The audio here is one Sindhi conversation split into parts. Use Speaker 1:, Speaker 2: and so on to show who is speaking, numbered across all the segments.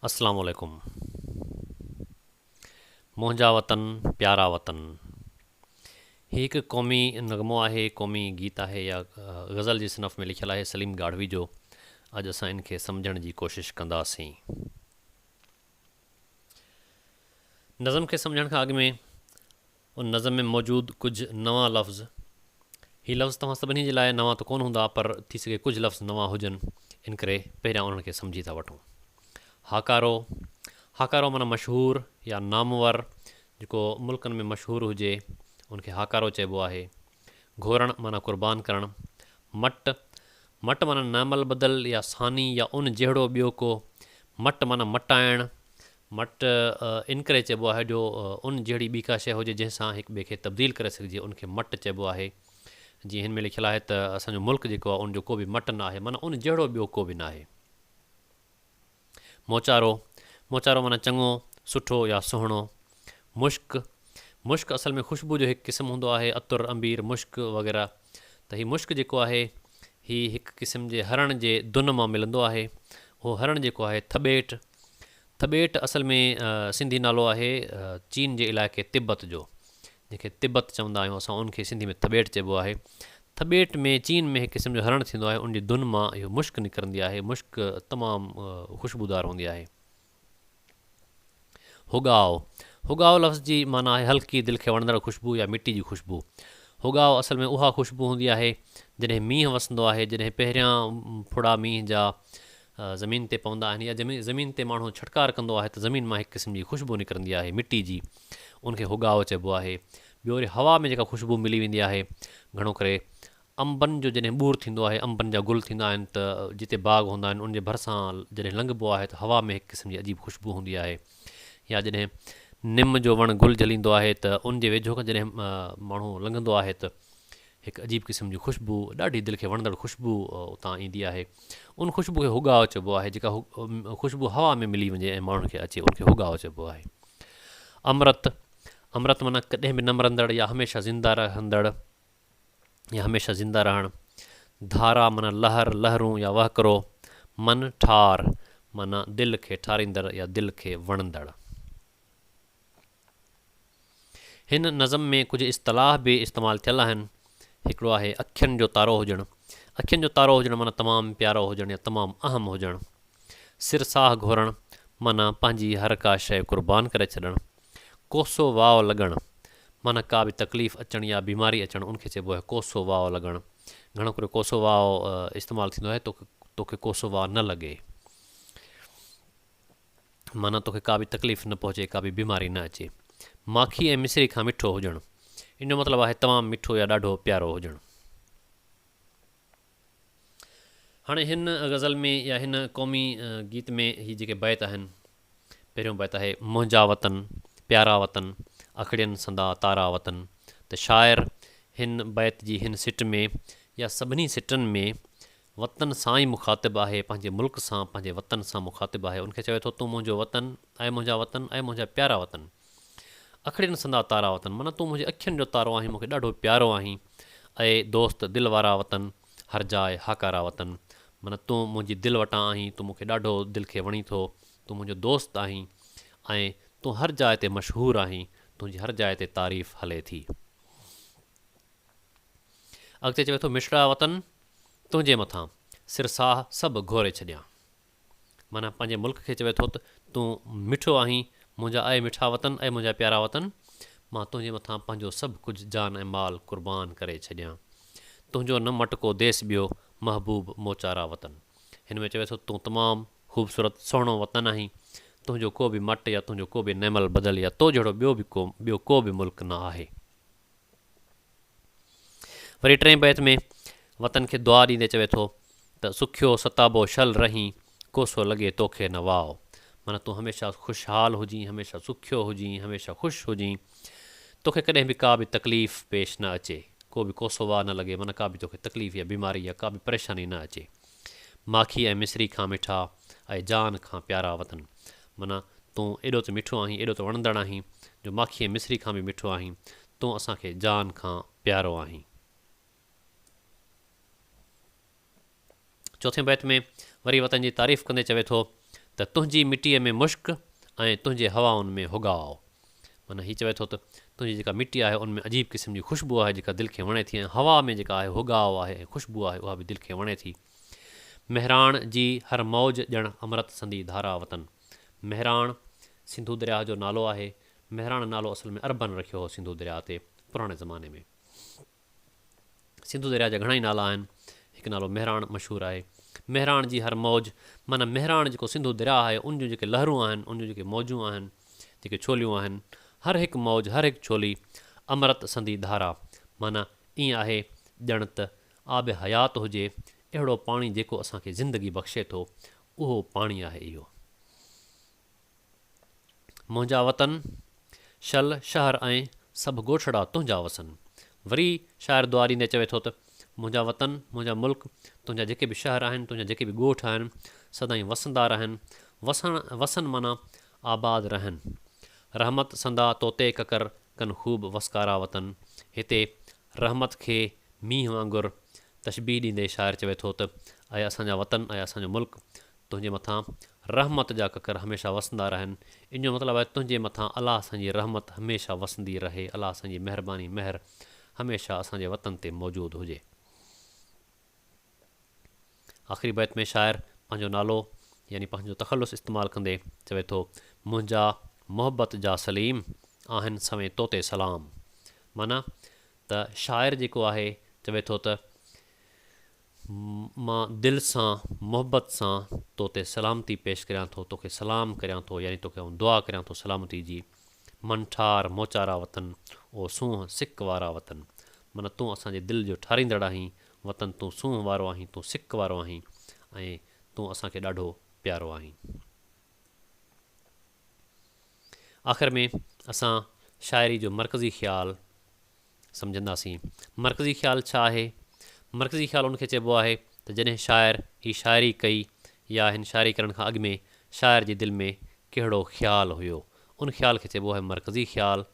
Speaker 1: اسلام عليڪم منهنجا وطن پيارا وطن هي هڪ قومي نغمو آهي قومي گيت آهي يا غزل جي صنف ۾ لکيل آهي سليم گاڙهوي جو اڄ اسان ان کي سمجهڻ جي ڪوشش ڪنداسين نظم کي سمجهڻ کان اڳ ۾ ان نظم ۾ موجود ڪجهه نوان لفظ، هي لفظ توهان سڀني جي لاء نوان ته ڪونه هوندا پر ٿي سگهي ڪجهه لفظ نوان هجن ان ڪري پهريان انهن کي سمجهي ٿا وٺون. هاڪارو، هاڪارو معنيٰ مشهور يا نامور جيڪو ملڪن ۾ مشهور هجي ان کي هاڪارو چئبو آهي. گهورڻ معنيٰ قربان ڪرڻ. مٽ، مٽ معنيٰ نعمالبدل يا ثاني يا ان جهڙو ٻيو ڪو. مٽ معنيٰ مٽائڻ. مٽ ان ڪري چئبو آهي جو ان جهڙي ٻي ڪا شيء هجي جنهن سان هڪ ٻئي کي تبديل ڪري سگهجي ان کي مٽ چئبو آهي. جيئن هن ۾ لکيل آهي ته اسان جو ملڪ جيڪو آهي ان جو ڪو به مٽ نه آهي معنيٰ ان جهڙو ٻيو ڪو به نه آهي. موچارو، موچارو معنيٰ چڱو، سٺو يا سهڻو. مشڪ، مشڪ اصل ۾ خوشبو جو هڪ قسم هوندو آهي، عطر، عنبير، مشڪ وغيره. ته هي مشڪ جيڪو آهي هي هڪ قسم جي هرڻ جي دن مان ملندو آهي اهو هرڻ جيڪو آهي ٿٻيٽ ٿٻيٽ اصل ۾ سنڌي نالو آهي چين جي علائقي تبت جو جنهن کي تبت چوندا آهيون اسان ان کي سنڌي ۾ ٿٻيٽ چئبو آهي ٿٻيٽ ۾ چين ۾ هڪ قسم جو هرڻ ٿيندو آهي ان جي دن مان اهو مشڪ نڪرندي آهي مشڪ تمام خوشبودار هوندي آهي هوڳاء، هوڳاء لفظ جي معنيٰ آهي هلڪي، دل کي وڻندڙ خوشبو يا مٽي جي خوشبو. هوڳاء اصل ۾ اها خوشبو هوندي آهي جڏهن مينهن وسندو آهي، جڏهن پهريان ڦڙا مينهن جا زمين تي پوندا آهن يا زمين تي ماڻهو ڇٽڪار ڪندو آهي ته زمين مان هڪ قسم جي خوشبو نڪرندي آهي مٽي جي، ان کي هوڳاء چئبو آهي. ٻيو وري هوا ۾ جيڪا خوشبو ملي ويندي آهي گهڻو ڪري انبن جو جڏهن ٻور ٿيندو آهي، انبن جا گل ٿيندا آهن ته جتي باغ هوندا آهن، ان جي ڀرسان جڏهن لنگهبو آهي ته هوا ۾ هڪ قسم جي عجيب خوشبو هوندي آهي. يا جڏهن نم جو وڻ گل جهليندو آهي ته ان جي ويجهو کان جڏهن ماڻهو لنگهندو آهي ته هڪ عجيب قسم جي خوشبو، ڏاڍي دل کي وڻندڙ خوشبو اتان ايندي آهي. ان خوشبو کي هوڳاء چئبو آهي. جيڪا خوشبو هوا ۾ ملي وڃي ۽ ماڻهن کي اچي، ان کي هوڳاء چئبو آهي. امرت، امرت معنيٰ ڪڏهن به نه مرندڙ يا هميشه زنده رهندڙ. يا هميشه زنده رهڻ، ڌارا معنيٰ لهر، لهرون يا وهڪرو، من ٺار معنيٰ دل کي ٺاريندڙ يا دل کي وڻندڙ. هن نظم ۾ ڪجهه اصطلاح به استعمال ٿيل آهن، هڪڙو آهي اکين جو تارو هجڻ، اکين جو تارو هجڻ معنيٰ تمام پيارو هجڻ يا تمام اهم هجڻ. سر ساهه گهورڻ معنيٰ پنهنجي هر ڪا شيء قربان ڪري ڇڏڻ. ڪوسو واء لڳڻ، معنيٰ ڪا به تڪليف اچڻ يا بيماري اچڻ ان کي چئبو آهي ڪوسو واء لڳڻ. گهڻو ڪري ڪوسو واء استعمال ٿيندو آهي توکي توکي ڪوسو واء نه لڳي. معنيٰ توکي ڪا به تڪليف نه پهچي ڪا به بيماري نه اچي. ماکي ۽ مصري کان مٺو هجڻ، ان جو مطلب آهي تمام مٺو يا ڏاڍو پيارو هجڻ. هاڻي هن غزل ۾ يا هن قومي گيت ۾ هي جيڪي بيت آهن پهريون بيت آهي منهنجا وطن پيارا وطن اکڙين سندا تارا وطن ته شاعر هن بيت جي هن سٽ ۾ يا سڀني سٽن ۾ وطن سان ئي مخاطب آهي پنهنجي ملڪ سان پنهنجي وطن سان مخاطب آهي ان کي چوي ٿو تون منهنجو وطن اي منهنجا وطن اي منهنجا پيارا وطن اکڙين سندا تارا وطن معنيٰ تون منهنجي اکين جو تارو آهين مون کي ڏاڍو پيارو آهين اي دوست دل وارا وطن هر جاء هاڪارا وطن معنيٰ تون منهنجي دل وٽان آهين تون مون کي ڏاڍو دل کي وڻين ٿو تون منهنجو دوست آهين ۽ تون هر جاء تي مشهور آهين تنهنجي هر جاء تي تعريف هلي ٿي اڳتي چوي ٿو مشرا وطن تنهنجي مٿان سر ساهه سڀ گهوري ڇڏيان. معنيٰ پنهنجي ملڪ کي چوي ٿو ته تون مٺو آهين، منهنجا اي مٺا وطن، اي منهنجا پيارا وطن، مان تنهنجي مٿان پنهنجو سڀ ڪجهه جان ۽ مال قربان ڪري ڇڏيان. تنهنجو نه مٽ ڪو ديس ٻيو، محبوب موچارا وطن. هن ۾ چوي ٿو تون تمام خوبصورت، سهڻو وطن آهين، تنهنجو ڪو به مٽ يا تنهنجو ڪو به نيمل بدل يا تو جهڙو ٻيو به ڪو ٻيو ڪو به ملڪ نه آهي. وري ٽئين بيت ۾ وطن کي دعا ڏيندي چوي ٿو ته سکيو ستابو شل رهين، ڪوسو لڳي توکي نه واء. معنيٰ تون هميشه خوشحال هجين، هميشه سکيو هجين، هميشه خوش هجين، توکي ڪڏهن به ڪا به تڪليف پيش نه اچي، ڪو به ڪوسو واء نه لڳي، معنيٰ ڪا به توکي تڪليف يا بيماري يا ڪا به پريشاني نه اچي. ماکي ۽ مصري کان مٺا اي جان کان پيارا وطن معنيٰ تون ايڏو ته مٺو آهين ايڏو ته وڻندڙ آهين جو ماکي ۽ مصري کان به مٺو آهين تون اسان کي جان کان پيارو آهين. چوٿين بيت ۾ وري وطن جي تعريف ڪندي چوي ٿو ته تنهنجي مٽيء ۾ مشڪ ۽ تنهنجي هوائن ۾ هوڳاء معنيٰ هي چوي ٿو ته تنهنجي جيڪا مٽي آهي ان ۾ عجيب قسم جي خوشبو آهي جيڪا دل کي وڻي ٿي ۽ هوا ۾ جيڪا آهي هوڳاء آهي ۽ خوشبو آهي اها به دل کي وڻي ٿي مهراڻ جي هر موج ڄڻ امرت سندي ڌارا وطن مهراڻ سنڌو درياهه جو نالو آهي مهراڻ نالو اصل ۾ عربن رکيو هو سنڌو درياهه تي پراڻي زماني ۾ سنڌو درياء جا گهڻائي نالا آهن. هڪ نالو مهراڻ مشهور آهي. مهراڻ جي هر موج معنيٰ مهراڻ جيڪو سنڌو درياء آهي ان جون جيڪي لهرون آهن، ان جون جيڪي موجون آهن، جيڪي ڇوليون آهن، هر هڪ موج، هر هڪ ڇولي امرت سندي ڌارا معنيٰ ائين آهي ڄڻ ته آب حيات هجي، اهڙو پاڻي جيڪو اسان کي زندگي بخشي ٿو، اهو پاڻي آهي اهو. منهنجا وطن شل شهر ۽ سڀ ڳوٺڙا تنهنجا وسن. وري شاعر دعا ڏيندي چوي ٿو ته منهنجا وطن، منهنجا ملڪ، تنهنجا جيڪي به شهر آهن، تنهنجا جيڪي به ڳوٺ آهن، سدائين وسندا رهن، وسڻ، وسن معنيٰ آباد رهن. رحمت سندا طوطي ڪڪر ڪن خوب وسڪارا وطن، هتي رحمت کي مينهن وانگر تشبيهه ڏيندي شاعر چوي ٿو ته اي اسان جا وطن، اي اسان جو ملڪ، تنهنجي مٿان رحمت جا ڪڪر هميشه وسندا رهن. ان جو مطلب آهي تنهنجي مٿان الله سان جي رحمت هميشه وسندي رهي، الله سان جي مهرباني، مهر هميشه اسان جي وطن تي موجود هجي. آخري بيت ۾ شاعر پنهنجو نالو يعني پنهنجو تخلص استعمال ڪندي چوي ٿو، منهنجا محبت جا سليم، آهن سوين تو تي سلام. معنيٰ ته شاعر جيڪو آهي چوي ٿو ته مان دل سان محبت سان تو تي سلامتي پيش ڪريان ٿو، توکي سلام ڪريان ٿو يعني توکي آئون دعا ڪريان ٿو سلامتي جي. من ٺار موچارا وطن او سونهن سڪ وارا وطن معنيٰ تون اسان جي دل جو ٺاريندڙ آهين وطن تون سونهن وارو آهين تون سڪ وارو آهين ۽ تون اسان کي ڏاڍو پيارو آهين. آخر ۾ اسان شاعري جو مرڪزي خيال. سمجهنداسين. مرڪزي خيال ڇا آهي؟ مرڪزي خيال ان کي چئبو آهي ته جڏهن شاعر هي شاعري ڪئي يا هن شاعري ڪرڻ کان اڳ ۾ شاعر جي دل ۾ ڪهڙو خيال هيو ان خيال کي چئبو آهي مرڪزي خيال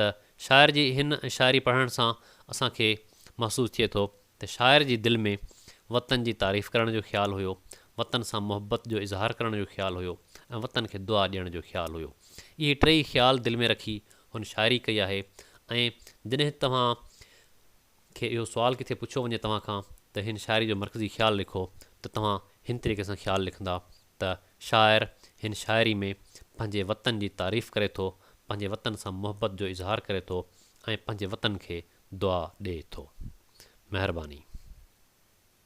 Speaker 1: ته شاعر جي هن شاعري پڙهڻ سان اسان کي محسوس ٿئي ٿو ته شاعر جي دل ۾ وطن جي تعريف ڪرڻ جو خيال هيو وطن سان محبت جو اظهار ڪرڻ جو خيال هيو ۽ وطن کي دعا ڏيڻ جو خيال هيو اهي ٽيئي خيال دل ۾ رکي هن شاعري ڪئي آهي ۽ جڏهن توهان کي اهو سوال ڪٿي پڇيو وڃي توهان کان ته هن شاعري جو مرڪزي خيال لکو ته توهان هن طريقي سان خيال لکندا ته شاعر هن شاعري ۾ پنهنجي وطن جي تعريف ڪري ٿو، پنهنجي وطن سان محبت جو اظهار ڪري ٿو ۽ پنهنجي وطن کي دعا ڏئي ٿو. مهرباني.